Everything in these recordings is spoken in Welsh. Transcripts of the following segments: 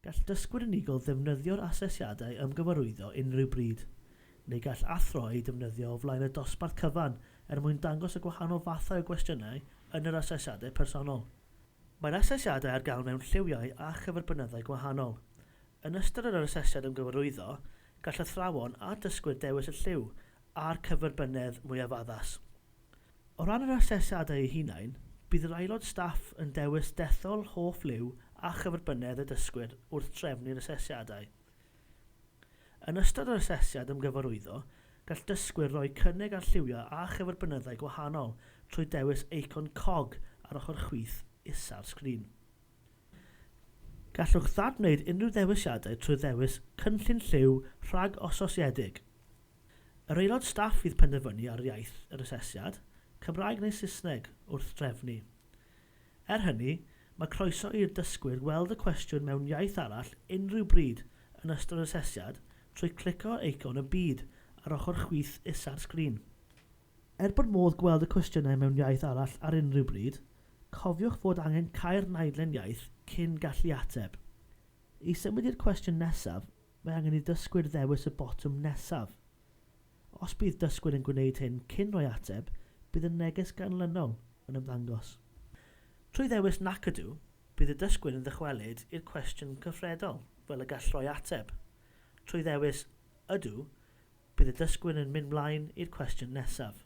Gall dysgwyr unigol ddefnyddio'r asesiadau ymgyfarwyddo unrhyw bryd, neu gall athro eu defnyddio o flaen y dosbarth cyfan er mwyn dangos y gwahanol fathau o gwestiynau yn yr asesiadau personol. Mae'r asesiadau ar gael mewn lliwiau a chyferbynyddau gwahanol. Yn ystod yr asesiad ymgyfarwyddo, gall athrawon a dysgwyr dewis y lliw a'r cyferbynnedd mwyaf addas. O ran yr asesiadau eu hunain, bydd yr aelod staff yn dewis dethol hoff liw a chyferbynnedd y dysgwyr wrth drefnu'r asesiadau. Yn ystod yr asesiad ymgyfarwyddo, gall dysgwyr roi cynnig ar lliwiau a chyferbynyddau gwahanol trwy dewis eicon cog ar ochr chwith isa'r sgrin. Gallwch ddadwneud unrhyw ddewisiadau trwy ddewis Cynllun Lliw rhag-ososiedig. Yr aelod staff fydd penderfynu ar iaith yr asesiad, Cymraeg neu Saesneg, wrth drefnu. Er hynny, mae croeso i'r dysgwyr weld y cwestiwn mewn iaith arall unrhyw bryd yn ystod yr asesiad trwy clicio ar eicon y byd ar ochr chwith isa'r sgrin. Er bod modd gweld y cwestiynau mewn iaith arall ar unrhyw bryd, cofiwch fod angen cau'r naidlen iaith cyn gallu ateb. I symud i'r cwestiwn nesaf, Mae angen i dysgwyr ddewis y botwm nesaf. Os bydd dysgwyr yn gwneud hyn cyn rhoi ateb, bydd y neges ganlynol yn ymddangos. Trwy ddewis 'Nac Ydw', bydd y dysgwyr yn ddychwelyd i'r cwestiwn cyfredol fel y gall rhoi ateb. Trwy ddewis 'Ydw', bydd y dysgwyr yn mynd mlaen i'r cwestiwn nesaf.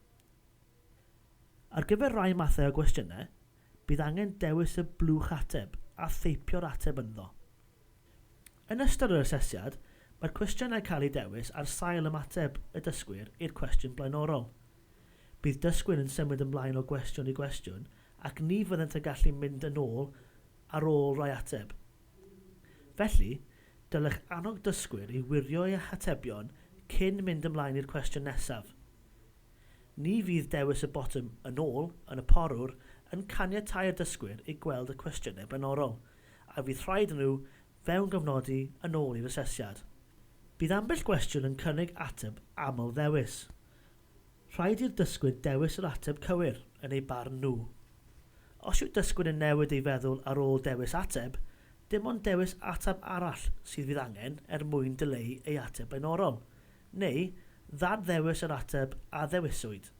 Ar gyfer rhai mathau o gwestiynau, bydd angen dewis y blwch ateb a theipio'r ateb ynddo. Yn ystod yr asesiad, mae'r cwestiynau'n cael eu dewis ar sail ymateb y dysgwyr i'r cwestiwn blaenorol. Bydd dysgwyr yn symud ymlaen o gwestiwn i gwestiwn ac ni fyddent yn gallu mynd yn ôl ar ôl rhoi ateb. Felly, dylech annog dysgwyr i wirio eu hatebion cyn mynd ymlaen i'r cwestiwn nesaf. Ni fydd dewis y botwm 'Yn ôl' yn y porwr yn caniatáu'r dysgwyr i gweld y cwestiynau blaenorol, a fydd rhaid iddyn nhw fewngofnodi yn ôl i'r asesiad. Bydd ambell gwestiwn yn cynnig ateb aml-ddewis. Rhaid i'r dysgwyr dewis yr ateb cywir, yn eu barn nhw. Os yw dysgwyr yn newid ei feddwl ar ôl dewis ateb, dim ond dewis ateb arall sydd fydd angen er mwyn dileu ei ateb blaenorol, neu ddad-ddewis yr ateb a ddewiswyd.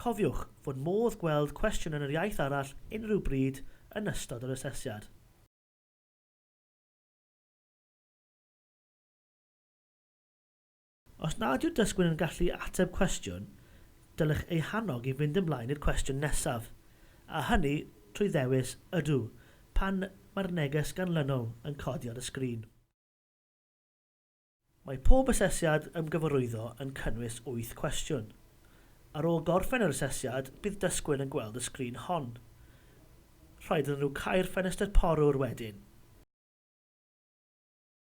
Cofiwch fod modd gweld cwestiwn yn yr iaith arall unrhyw bryd yn ystod yr asesiad. Os nad yw'r dysgwr yn gallu ateb cwestiwn, dylech ei hannog i fynd ymlaen i'r cwestiwn nesaf, a hynny trwy ddewis Ydw pan mae'r neges ganlynol yn codi ar y sgrin. Mae pob asesiad ymgyfarwyddo yn cynnwys wyth cwestiwn. Ar ôl gorffen yr asesiad, bydd dysgwyr yn gweld y sgrin hon. Rhaid iddyn nhw cau'r ffenestr porwr wedyn.